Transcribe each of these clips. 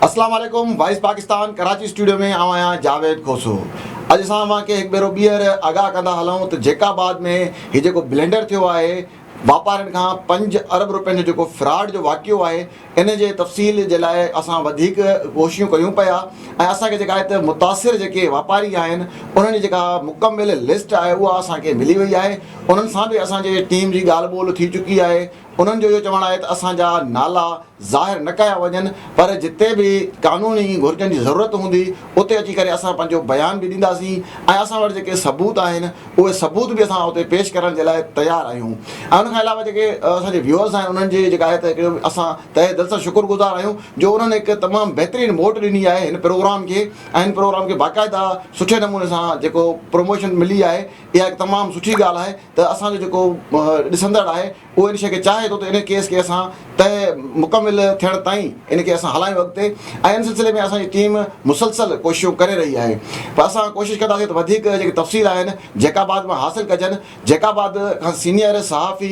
اسلام عليڪم voice Pakistan Karachi studio ۾ آئون آهيان جاويد کوسو اڄ اسان اوهان کي هڪ ڀيرو ٻيهر آگاهه ڪندا هلون ته جيڪب آباد ۾ هي جيڪو بلينڊر ٿيو آهي واپارين کان پنج ارب روپين جو جيڪو فراڊ جو واقعو آهي ان جي تفصيل جي لاء اسان وڌيڪ ڪوششون ڪيون پيا ۽ اسان کي جيڪا هت متاثر جيڪي واپاري آهن انهن جي جيڪا مڪمل لسٽ آهي اها اسان کي ملي وئي آهي انهن سان به اسان جي ٽيم جي ڳالهه ٻولهه ٿي چڪي آهي انهن جو اهو چوڻ آهي ته اسان جا نالا ظاهر نه ڪيا وڃن پر جتي به قانوني گهرجن جي ضرورت هوندي اتي اچي ڪري اسان پنهنجو بيان به ڏينداسين ۽ اسان وٽ جيڪي ثبوت آهن اهي ثبوت به اسان اتي پيش ڪرڻ جي لاء تيار آهيون ۽ ان کان علاوه جيڪي اسان جي ويوئرز آهن انهن جي جيڪا آهي ته هڪڙو اسان تهه دل سان شڪر گذار آهيون جو انهن هڪ تمام بهترين موٽ ڏني آهي هن پروگرام کي ۽ هن پروگرام کي باقاعده سٺي نموني سان جيڪو پروموشن ملي آهي اها هڪ تمام سٺي ڳالهه آهي ته اسان جو جيڪو ڏسندڙ آهي اهو ان شيء کي چاهي ٿو ته ان ڪيس کي اسان طئي مڪمل ٿيڻ تائين ان کي اسان هلايون اڳتي ۽ ان سلسلي ۾ اسان جي ٽيم مسلسل ڪوششون ڪري رهي آهي پر اسان ڪوشش ڪنداسين ته وڌيڪ جيڪي تفصيل آهن جيڪاباد مان حاصل ڪجن جيڪاباد کان سينيئر صحافي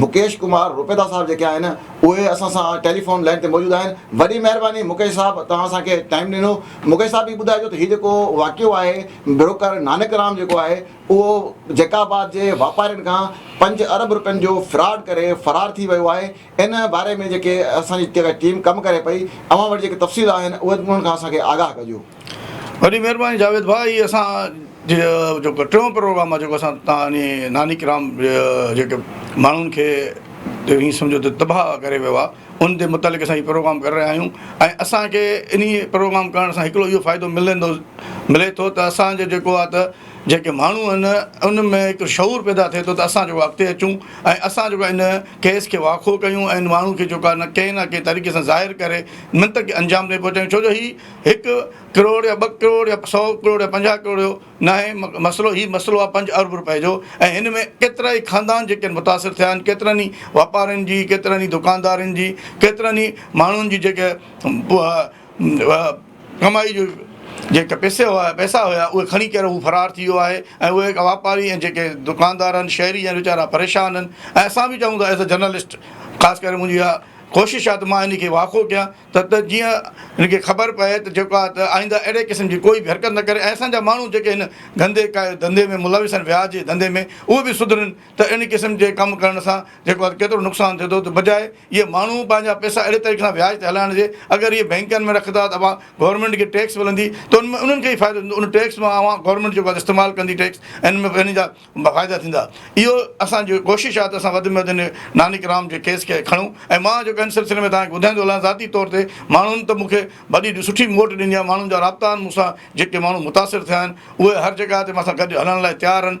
مڪيش ڪمار روپيدا صاحب جيڪي آهن اهي اسان سان ٽيليفون لائين تي موجود آهن وڏي مهرباني مڪيش صاحب توهان اسان کي ٽائيم ڏنو مڪيش صاحب هي ٻڌائجو ته هي جيڪو واقعو آهي بروڪر نانڪ رام جيڪو آهي اهو جيڪا آباد جي واپارين کان پنج ارب رپين جو فراڊ ڪري فرار ٿي ويو آهي ان باري ۾ جيڪي اسان جي جيڪا ٽيم ڪم ڪري پئي اوهان وٽ جيڪي تفصيل آهن اهي انهن کان اسان کي آگاهه ڪجو. وڏي مهرباني جاويد ڀاء هي اسان جي جيڪو ٽيون پروگرام آهي جيڪو اسان تان انهي ناني ڪرام جيڪي ماڻهن کي ايئن سمجهو ته تباهه ڪري ويو آهي ان تي متعلق اسان هي پروگرام ڪري رهيا آهيون ۽ اسان کي انهي پروگرام ڪرڻ سان هڪڙو اهو فائدو ملندو ملي ٿو ته اسان جو جيڪو آهي ته جيڪي ماڻهو آهن ان ۾ هڪ شعور پيدا ٿئي ٿو ته اسان جيڪو اڳتي اچون ۽ اسان جيڪو ان ڪيس کي واکو ڪيون ۽ ان ماڻهو کي جيڪو آهي ڪنهن نه ڪنهن طريقي سان ظاهر ڪري منطقي انجام تائين پهچائيون ڇو جو هي هڪ ڪروڙ يا ٻه ڪروڙ يا سو ڪروڙ يا پنجاهه ڪروڙ جو ناهي مسئلو هي مسئلو آهي پنج ارب روپئي جو ۽ هن ۾ ڪيترائي خاندان جيڪي آهن متاثر ٿيا آهن ڪيترن ئي واپارين جي ڪيترن ئي دڪاندارن جي ڪيترن ئي ماڻهن جي جيڪي ڪمائي جو جيڪا پيسي هئا پيسا هيا اهي کڻي ڪري هو فرار ٿي ويو آهي ۽ اهي جيڪا واپاري ۽ جيڪي دڪاندار آهن شهري آهن ويچارا پريشان آهن ۽ اسان به چاهون ٿا ايز اي جرنلسٽ خاص ڪري منهنجي اها ڪوشش آهي ته مان ان کي واقعو ڪيان ته ته جيئن ان کي خبر پئي ته جيڪو آهي ته آئنده اهڙي قسم جي ڪوئي بي حرڪت نه ڪري ۽ اسان جا ماڻهو جيڪي هن گندي ڪا ڌنڌي ۾ ملوث آهن وياج جي ڌنڌي ۾ اهي به سڌرن ته اهڙي قسم جي ڪم ڪرڻ سان جيڪو آهي ڪيترو نقصان ٿئي ٿو ته بجاء اهي ماڻهو پنهنجا پئسا اهڙي طريقي سان وياج تي هلائڻ جي اگر اهي بئنڪن ۾ رکندا ته اوهان گورنمينٽ کي ٽيڪس ملندي ته ان ۾ انهن کي ئي فائدو ٿيندو ان ٽيڪس مان اوهان گورنمينٽ جيڪو آهي استعمال ڪندي ٽيڪس ان ۾ ان جا فائدا ٿيندا اهو اسانجو ڪوشش آهي ته اسان وڌ ۾ وڌ ان نانڪ رام جي ڪيس کي کڻون ۽ مان جيڪو ان سلسلي ۾ توهان کي ٻڌائيندو هلان ذاتي طور تي ماڻهن ته مون کي ڀلي جو سٺي موٽ ڏني آهي، ماڻهن جا رابطا آهن مون سان، جيڪي ماڻهو متاثر ٿيا آهن، اهي هر جڳهه تي مان سان گڏ هلڻ لاء تيار آهن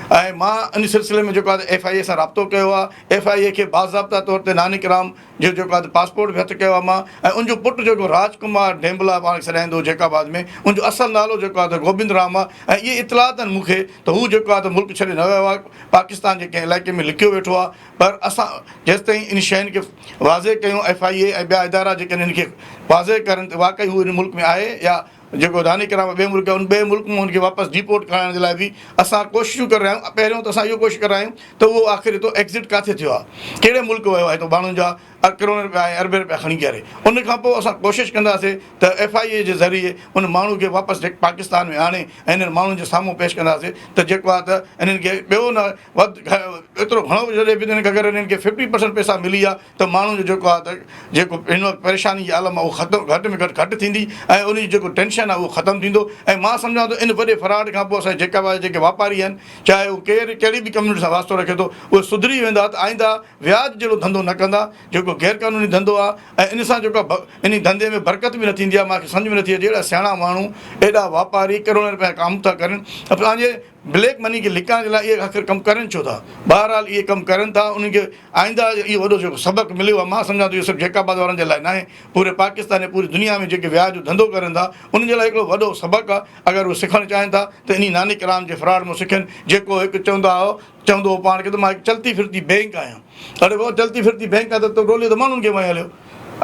۽ مان ان سلسلي ۾ جيڪو آهي ايف آء اي سان رابطو ڪيو آهي، ايف آء اي کي باضابطا طور تي نانيڪ رام جو جيڪو آهي پاسپورٽ به هٿ ڪيو آهي مان ۽ ان جو پٽ جيڪو راج ڪمار ڍينبلا پاڻ کي سڏائيندو هو جيڪب آباد ۾ ان جو اصل نالو جيڪو آهي ته گوبند رام آهي ۽ اهي اطلاعات آهن مون کي ته هو جيڪو آهي ته ملڪ ڇڏي نه ويو آهي پاڪستان جي ڪنهن علائقي ۾ لڪيو ويٺو آهي پر اسان جيستائين ان شين کي واضح ڪيون ايف آء اي ۽ ٻيا ادارا جيڪڏهن ان کي واضح ڪرن ته واقعي هو ان ملڪ ۾ آهي يا جيڪو داني ڪرامه ٻئي ملڪ ان ٻئي ملڪ مان ان کي واپس ڊيپورٽ ڪرائڻ جي لاء به اسان ڪوششون ڪري رهيا آهيون پهريون ته اسان اهو ڪوشش ڪري رهيا آهيون ته اهو آخر هتو ايگزٽ ڪاٿي ٿيو آهي ڪهڙي ملڪ ويو آهي تو ماڻهن جا ارب ڪروڙين رپيا ۽ اربين رپيا کڻي ڪري ان کان پوء اسان ڪوشش ڪنداسين ته ايف آء اي جي ذريعي ان ماڻهو کي واپس پاڪستان ۾ آڻي ۽ انهن ماڻهن جي سامهون پيش ڪنداسين ته جيڪو آهي ته انهن کي ٻيو نه وڌ ايترو گهڻو به جڏهن به اگر انهن کي ففٽي پرسنٽ پئسا ملي ويا ته ماڻهو جو جيڪو آهي ته جيڪو هن وقت پريشاني جي عالم اهو ختم گهٽ ۾ گهٽ گهٽ ٿيندي ۽ ان جي جيڪو ٽينشن آهي اهو ختم ٿيندو ۽ مان سمجهان ٿو ان وڏي فراڊ کان پوء اسان جي جيڪا به جيڪي واپاري آهن چاهي هو ڪير ڪهڙي به ڪميونٽي سان واسطو رکي ٿو اهي سڌري ويندا ته آئنده وياج جهڙو ڌنڌو نه ڪندا جيڪو غير قانوني ڌنڌو آ ۽ ان سان جيڪو انهي ڌنڌي ۾ برڪت به نه ٿيندي آ مانکي سمجهه ۾ نه ٿي اچي اهڙا سياڻا ماڻهو ايڏا واپاري ڪروڙين رپيا ڪام ٿا ڪرن ته پنهنجي بليڪ مني کي لڪائڻ جي لاء اهي آخر ڪم ڪرن ڇو ٿا بهرحال اهي ڪم ڪرن ٿا انهن کي آئنده اهو وڏو جيڪو سبق مليو آ مان سمجهان ٿو اهو صرف جيڪب آباد وارن جي لاء ناهي پوري پاڪستان ۽ پوري دنيا ۾ جيڪي وياج جو ڌنڌو ڪرن ٿا انهن جي لاء هڪڙو وڏو سبق آ اگر اهي سکڻ چاهين ٿا ته انهي نانڪ رام جي فراڊ مون سکين جيڪو هڪ چوندا هئا چوندو هو پاڻ کي ته مان هڪ چلتي ڦرتي بئنڪ آهيان. اڙي بابا چلتي ڦرتي بئنڪ آهي ته تو ٽولي ته ماڻهن کي وهين هليو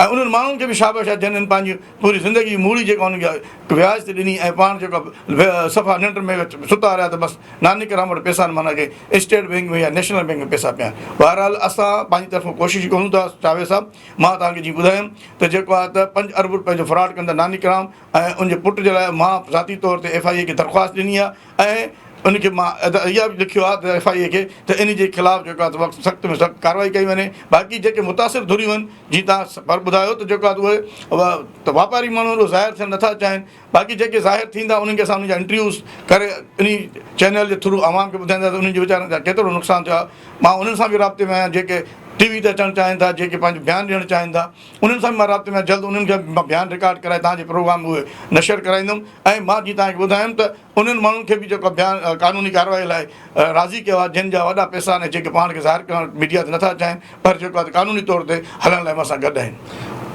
۽ انهن ماڻهن کي به شابش آهي جن هن پنهنجي پوري زندگي جي موڙي جيڪا انهن کي وياج تي ڏني ۽ پاڻ جيڪا صفا ننڊ ۾ ستا رهيا ته بس نانيڪرام وٽ پئسا آهن معنيٰ ڪنهن اسٽيٽ بئنڪ ۾ يا نيشنل بئنڪ ۾ پئسا پيا آهن. بهرحال اسان پنهنجي طرفان ڪوشش ڪريون ٿا چاويز صاحب مان توهان کي جيئن ٻڌايم ته جيڪو آهي ته پنج ارب رپين جو فراڊ ڪندڙ نانيڪرام ۽ ان جي پٽ جي لاء مان ذاتي طور تي ايف آء اي کي درخواست ڏني آهي ۽ ان کي مان ادا اها به لکيو آهي ته ايف آء اي کي ته ان جي خلاف جيڪو آهي وقت سخت ۾ سخت ڪارروائي ڪئي وڃي باقي جيڪي متاثر ڌريون آهن جي تان پر ٻڌايو ته جيڪو آهي اهي ته واپاري ماڻهو اهو ظاهر ٿيڻ نٿا چاهين باقي جيڪي ظاهر ٿيندا انهن کي اسان ان جا انٽرويوز ڪري انهي چينل جي ٿرو عوام کي ٻڌائيندا ته انهن جي ويچارن جا ڪيترو نقصان ٿيو آهي مان انهن سان به رابطي ۾ آهيان جيڪي ٽي وي تي اچڻ چاهين ٿا جيڪي پنهنجو بيان ڏيڻ چاهين ٿا انهن سان به مان رابطي ۾ آهيان، جلد انهن کي به مان بيان رڪارڊ ڪرائي توهان جي پروگرام ۾ اهي نشر ڪرائيندم ۽ مان جيئن توهان کي ٻڌايم ته انهن ماڻهن کي به جيڪو بيان قانوني ڪارروائي لاء راضي ڪيو آهي جن جا وڏا پئسا آهن ۽ جيڪي پاڻ کي ظاهر ڪرڻ ميڊيا تي نه ٿا چاهين پر جيڪو آهي ته قانوني طور تي هلڻ لاء مون سان گڏ آهن.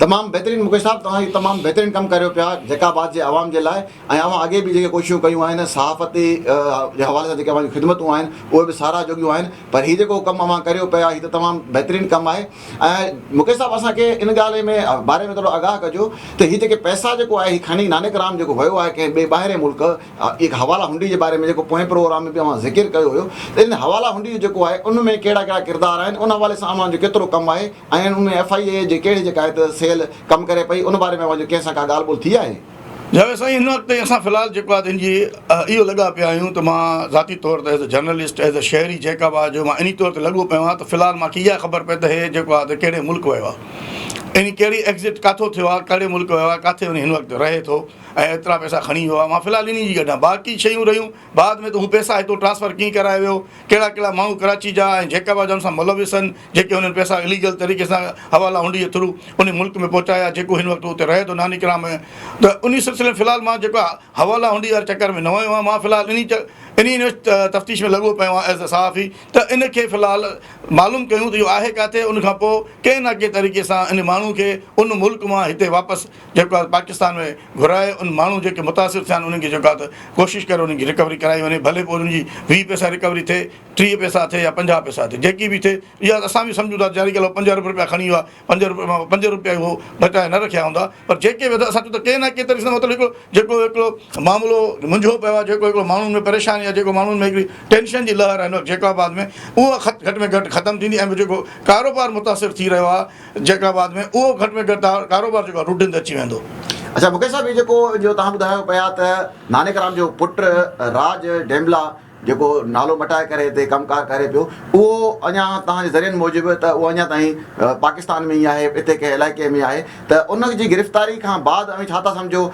تمام بهترين مڪيش صاحب توهان هي تمام بهترين ڪم ڪريو پيا جيڪا آباد جي عوام جي لاء ۽ اوهان اڳي به جيڪي ڪوششون ڪيون آهن صحافتي جي حوالي سان جيڪي اوهان جون خدمتون آهن اهي به ساراهه جوڳيون آهن پر هي جيڪو ڪم اوهان ڪريو پيا هي ته تمام بهترين ڪم آهي ۽ مکي صاحب اسان کي ان ڳالهه ۾ باري ۾ ٿورو آگاهه ڪجو ته هي جيڪي پئسا جيڪو آهي هي کڻي نانڪ رام جيڪو ويو آهي ڪنهن ٻئي ٻاهرين ملڪ اهي حوالا هنڊي جي باري ۾ جيڪو پوئين پروگرام ۾ به اوهان ذڪر ڪيو هيو ته ان حوالا هنڊي جو جيڪو آهي ان ۾ ڪهڙا ڪهڙا ڪردار آهن ان حوالي سان اوهان جو ڪيترو ڪم آهي ۽ ان ۾ ايف آء اي جي ڪهڙي جيڪا آهي ته سيل ڪم ڪري پئي ان باري ۾ اوهان جو ڪنهن سان ڪا ڳالهه ٻولهه ٿي آهي. جاويد سائين هن وقت تائين اسان في الحال جيڪو آهي تنهنجي اهو لڳا پيا آهيون ته مان ذاتي طور تي as a journalist as a شهري جيڪب آهي جو مان انهي طور تي لڳو پيو آهيان ته في الحال مان کي اها خبر پئي ته هي جيڪو آهي ته ڪهڙي ملڪ ويو آهي ۽ ڪهڙي ايگزٽ ڪاٿو ٿيو آهي ڪهڙي ملڪ ويو آهي ڪاٿي وڃي هن وقت رهي ٿو ۽ ايترا پئسا کڻي ويو آهي مان في الحال انهي جي ڳڍان باقي شيون رهيون بعد ۾ ته هو پئسا هتو ٽرانسفر ڪيئن ڪرايو ويو، ڪهڙا ڪهڙا ماڻهو ڪراچي جا ۽ جيڪابا جا ان سان ملوث هن، جيڪي هنن پئسا اليگل طريقي سان حوالا هنڊي جي ٿرو انهي ملڪ ۾ پهچايا، جيڪو هن وقت اتي رهي ٿو نانيڪرا ۾ ته انهي سلسلي ۾ في الحال مان جيڪو حوالا هنڊي واري چڪر ۾ نه ويو آهيان، مان في الحال انهي انهي تفتيش ۾ لڳو پيو آهيان ايز صحافي ته ان کي في الحال معلوم ڪيون ته اهو آهي ڪاٿي ان کان پوء ڪنهن نه ڪنهن طريقي سان انهي ماڻهو کي ان ملڪ مان هتي واپس جيڪو آهي پاڪستان ۾ گهرائي ان ماڻهو جيڪي متاثر ٿيا آهن انهن کي جيڪو آهي ته ڪوشش ڪري انهن جي رڪوري ڪرائي وڃي ڀلي پوء انهن جي ويهه پئسا رڪوري ٿئي ٽيهه پئسا ٿئي يا پنجاهه پئسا ٿئي جيڪي به ٿئي اها ته اسان به سمجهون ٿا جاري ڳالهه پنج ارب رپيا کڻي ويو آهي پنج ارب مان پنج رپيا هو بچائي نه رکيا هوندا پر جيڪي به اسان چون ٿا ڪنهن نه ڪنهن طريقي سان مطلب هڪڙو جيڪو هڪڙو معاملو منجهو پيو آهي جيڪو هڪڙو ماڻهن ۾ پريشاني آهي جيڪو ماڻهن ۾ هڪڙي ٽينشن جي لهر آهي جيڪب آباد ۾ اها گهٽ ۾ گهٽ ختم ٿيندي ۽ جيڪو ڪاروبار متاثر ٿي رهيو آهي جيڪا بعد ۾ اهو گهٽ ۾ گهٽ ڪاروبار جيڪو آهي روٽين تي اچي ويندو. اڇا مڪيش صاحب هي جيڪو جو توهان ٻڌايو پيا ته نانيڪ رام جو پٽ راج ڊيمبلا جيڪو نالو مٽائي ڪري هتي ڪم ڪار ڪري پيو اهو اڃا توهان جي ذريعن موجب ته اهو اڃا تائين پاڪستان ۾ ئي آهي اتي ڪنهن علائقي ۾ آهي ته ان جي گرفتاري کان بعد اوهين ڇا ٿا سمجهو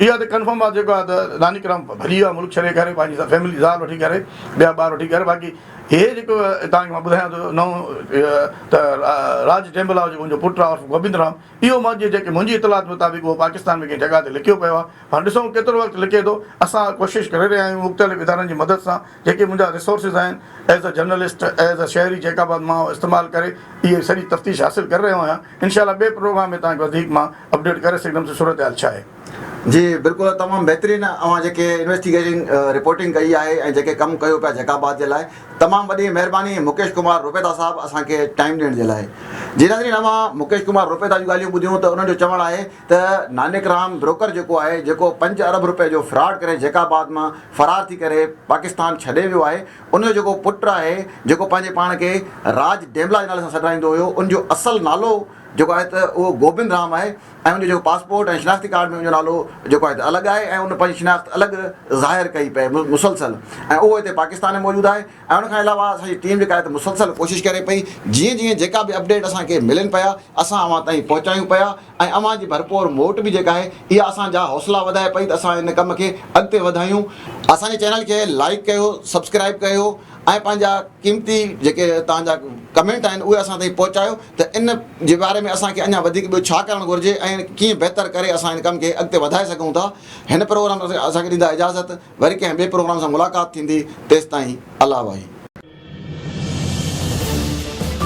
اها ته ڪنفرم آ جيڪو آ ته راني ڪرام ڀڄي ويو آ ملڪ ڇڏي ڪري پنهنجي سڀ فيملي زال وٺي ڪري ٻيا ٻار وٺي ڪري باقي هي جيڪو توهان کي مان ٻڌايان ٿو نئون ته راج ٽيمبلا جيڪو منهنجو پٽ آ عرف گوبند رام اهو مان جي جيڪي منهنجي اطلاعات مطابق اهو پاڪستان ۾ ڪنهن جڳهه تي لڪيو پيو آ هاڻ ڏسون ڪيترو وقت لڪي ٿو اسان ڪوشش ڪري رهيا آهيون مختلف ادارن جي مدد سان جيڪي منهنجا ريسورسز آهن as a journalist as a شهري جيڪ آباد مان استعمال ڪري اهي سڄي تفتيش حاصل ڪري رهيو آهيان انشاء الله ٻئي پروگرام ۾ توهان کي وڌيڪ مان اپڊيٽ ڪري سگهندم ته صورتحال ڇا آهي. جي بلڪل تمام بهترين اوهان جيڪي انويسٽيگيشن رپورٽنگ ڪئي آهي ۽ جيڪي ڪم ڪيو پيا جيڪ آباد جي لاء تمام وڏي مهرباني مڪيش ڪمار روپيتا صاحب اسان کي ٽائيم ڏيڻ جي لاء جي ناظرين اوهان مڪيش ڪمار روپيتا جون ڳالهيون ٻڌيون ته انهن جو چوڻ آهي ته نانيڪ رام بروڪر جيڪو آهي جيڪو پنج ارب روپيه جو فراڊ ڪري جيڪاباد مان فرار ٿي ڪري پاڪستان ڇڏي ويو آهي ان جو جيڪو پٽ آهي جيڪو پنهنجي پاڻ کي راج ڊيملا جي نالي سان سڏرائيندو هيو ان جو اصل نالو جيڪو آهي ته اهو گوبند رام آهي ۽ ان جو جيڪو پاسپورٽ ۽ شناختي ڪارڊ ۾ ان جو نالو جيڪو آهي ته الڳ آهي ۽ ان پنهنجي شناخت الڳ ظاهر ڪئي پئي مسلسل ۽ اهو هتي پاڪستان ۾ موجود آهي ۽ ان کان علاوه اسان جي ٽيم جيڪا آهي ته مسلسل ڪوشش ڪري پئي جيئن جيئن جيڪا به اپڊيٽ اسان کي ملن پيا اسان اوهان تائين پهچايون پيا ۽ اوهان جي ڀرپور موٽ به جيڪا آهي اها اسان جا حوصلا وڌائي پئي ته اسان ان ڪم کي اڳتي وڌايون. اسان جي چينل کي لائيڪ ڪيو سبسڪرائيب ڪيو ۽ پنهنجا قيمتي جيڪي توهان جا ڪمينٽ آهن اهي اسان تائين پهچايو ته ان جي باري ۾ اسان کي اڃا وڌيڪ ٻيو ڇا ڪرڻ گهرجي ۽ ڪيئن بهتر ڪري اسان ان ڪم کي اڳتي وڌائي سگهون ٿا هن پروگرام اسان کي ڏيندا اجازت. وري ڪنهن ٻئي پروگرام سان ملاقات ٿيندي تيستائين الا واهي.